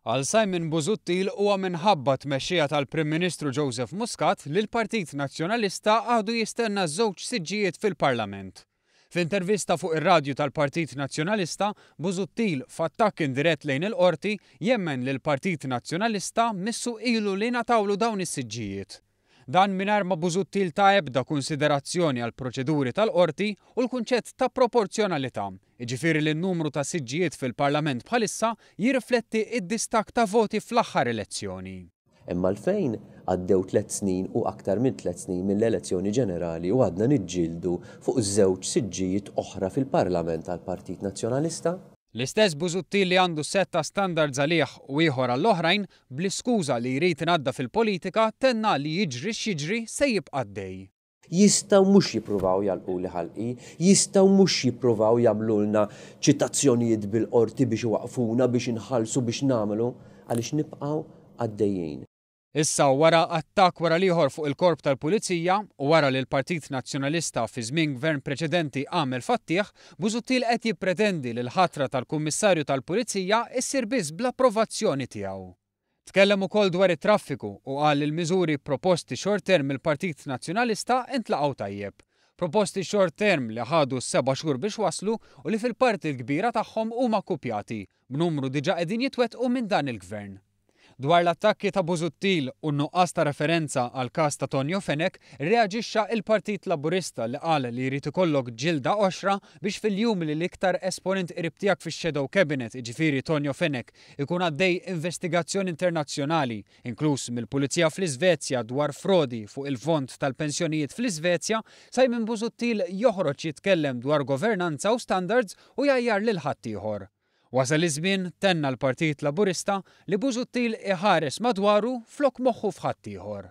Għal Simon Busuttil huwa minħabba t-tmexxija tal-Prim Ministru Joseph Muscat li l-Partit Nazzjonalista għadu jistenna żewġ siġġijiet fil-Parlament. F'intervista fuq ir-radju tal-Partit Nazzjonalista, Busuttil, f'attakk indirett lejn il-Qorti, jemmen li l-Partit Nazzjonalista missu ilu li ngħatawlu dawn is-siġġijiet. Dan mingħajr ma Busuttil ta ebda kunsiderazzjoni għall-proċeduri tal-Qorti u l-kunċett ta' proporzjonalità, jiġifieri li n-numru ta' siġġijiet fil-Parlament bħalissa jirrifletti d-distakk ta' voti fl-aħħar elezzjoni. Hemm għalfejn għaddew tliet snin u aktar minn tliet snin mill-elezzjoni ġenerali u għadna niġġieldu fuq żewġ siġġijiet oħra fil-Parlament għall-Partit Nazzjonalista? L-istess Busuttil li għandu sett ta' standards għalih u ieħor għall-oħrajn, Bl-iskuża li jrid inaddaf il-politika, tenna li jiġri x'jiġri se jibqa' għaddej. Jistgħu mhux jippruvaw jagħlquli ħalqi, jistgħu mhux jippruvaw jagħmlulna ċitazzjonijiet bil-Qorti biex iwaqqfuna, biex inħallsu, biex nagħmlu, għaliex nibqgħu għaddejjin. Issa, wara attakk wara l-ieħor fuq il-Korp tal-Pulizija, u wara li l-Partit Nazzjonalista fi żmien Gvern preċedenti għamel fattiegħ, Busuttil qed jippretendi li l-ħatra tal-Kummissarju tal-Pulizija ssir biss bl-approvazzjoni tiegħu. Tkellem ukoll dwar it-traffiku u qal li l-miżuri proposti short term mill-Partit Nazzjonalista intlaqgħu tajjeb. Proposti short term li ħadu seba' xhur biex waslu u li fil-parti l-kbira tagħhom huma kkupjati, b'numru diġà qegħdin jitwettqu minn dan il-Gvern. Dwar l-attakki ta' Busuttil u n-nuqqas ta' referenza għall-każ ta' Tonio Fenech, rreaġixxa l-Partit Laburista li qal li jrid ikollok ġilda qoxra biex fil-jum li l-iktar esponent qrib tiegħek fix-Shadow Cabinet, jiġifieri Tonio Fenech, ikun għaddej investigazzjoni internazzjonali, inkluż mill-Pulizija fl-Isvezja dwar frodi fuq il-fond tal-pensjonijiet fl-Isvezja, Simon Busuttil joħroġ jitkellem dwar governanza u standards u jgħajjar lil ħaddieħor. Wasal iż-żmien, tenna l-Partit Laburista, li Busuttil iħares madwaru flok moħħu f'ħaddieħor.